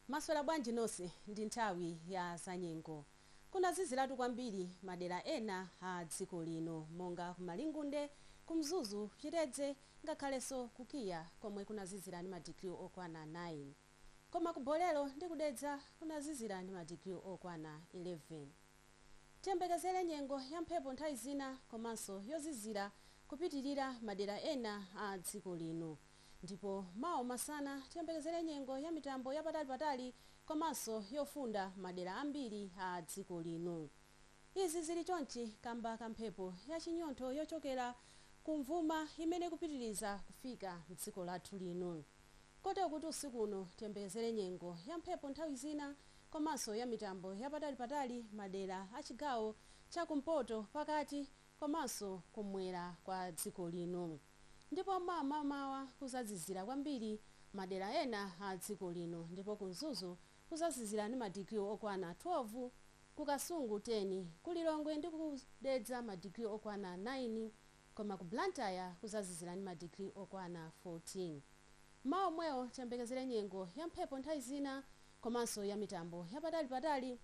Mwaswera bwanji nonse ndi nthawi ya zanyengo. Kunaziziratu kwambiri madera ena a dziko lino monga ku Malingunde, ku Mzuzu, Chitedze ngakhalenso ku KIA komwe kunazizira ndi ma degree okwana 9. Koma ku Bolero ndi ku Dedza kunazizira ndi ma degree okwana 11. Tiyembekezere nyengo ya mphepo nthawi zina komanso yozizira kupitirira madera ena a dziko lino. Ndipo mawa masana tiyembekezere nyengo ya mitambo ya patali patali komanso yofunda madera ambiri a dziko lino. Izi zili chonchi kamba ka mphepo ya chinyontho yochokera ku mvuma imene ikupitiliza kufika mdziko lathu lino. Kotero kuti usiku uno tiyembekezere nyengo ya mphepo nthawi zina komanso ya mitambo ya patali patali madera a chigawo cha kumpoto, pakati, komanso kummwera kwa dziko lino ndipo mawa m'mamawa kuzazizira kwambiri madera ena a dziko lino ndipo ku Mzuzu kuzazizira ndi madigiri okwana 12, ku Kasungu 10, ku Lilongwe ndi ku Dedza madigiri okwana 9 koma ku Blantyre kuzazizira ndi madigiri okwana 14. Mawa omwewo tiyembekezere nyengo ya mphepo nthawi zina komanso ya mitambo yapatalipatali.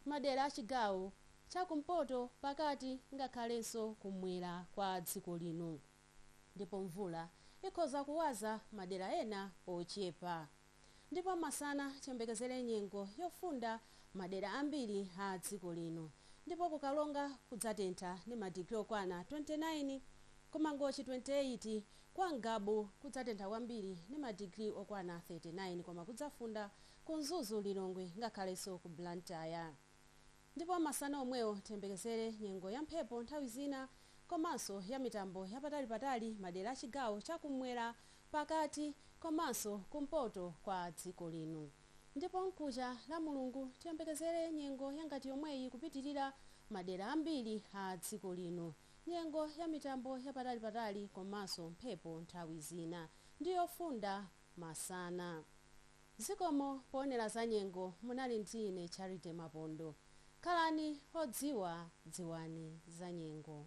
madera a chigawo cha kumpoto, pakati ngakhalenso kummwera kwa dziko lino ndipo mvula ikhoza kuwaza madera ena ochepa ndipo masana tiyembekezere nyengo yofunda madera ambiri a dziko lino ndipo ku Karonga kudzatentha ndi ma digiri okwana 29, ku Mangochi 28, kwa Ngabu kudzatentha kwambiri ndi ma digiri okwana 39 koma kudzafunda ku Mzuzu, Lilongwe ngakhalenso ku Blantyre. Ndipo masana omwewo tiyembekezere nyengo ya mphepo nthawi zina komanso ya mitambo ya patalipatali madera a chigawo cha kummwera, pakati komanso kumpoto kwa dziko lino. Ndipo mkuja Lamulungu tiyembekezere nyengo ya ngati yomweyi kupitilira madera ambiri a dziko lino, nyengo ya mitambo ya patalipatali komanso mphepo nthawi zina ndi yofunda masana. Zikomo poonera za nyengo munali ndi ine Charity Mapondo. Khalani odziwa dziwani za nyengo.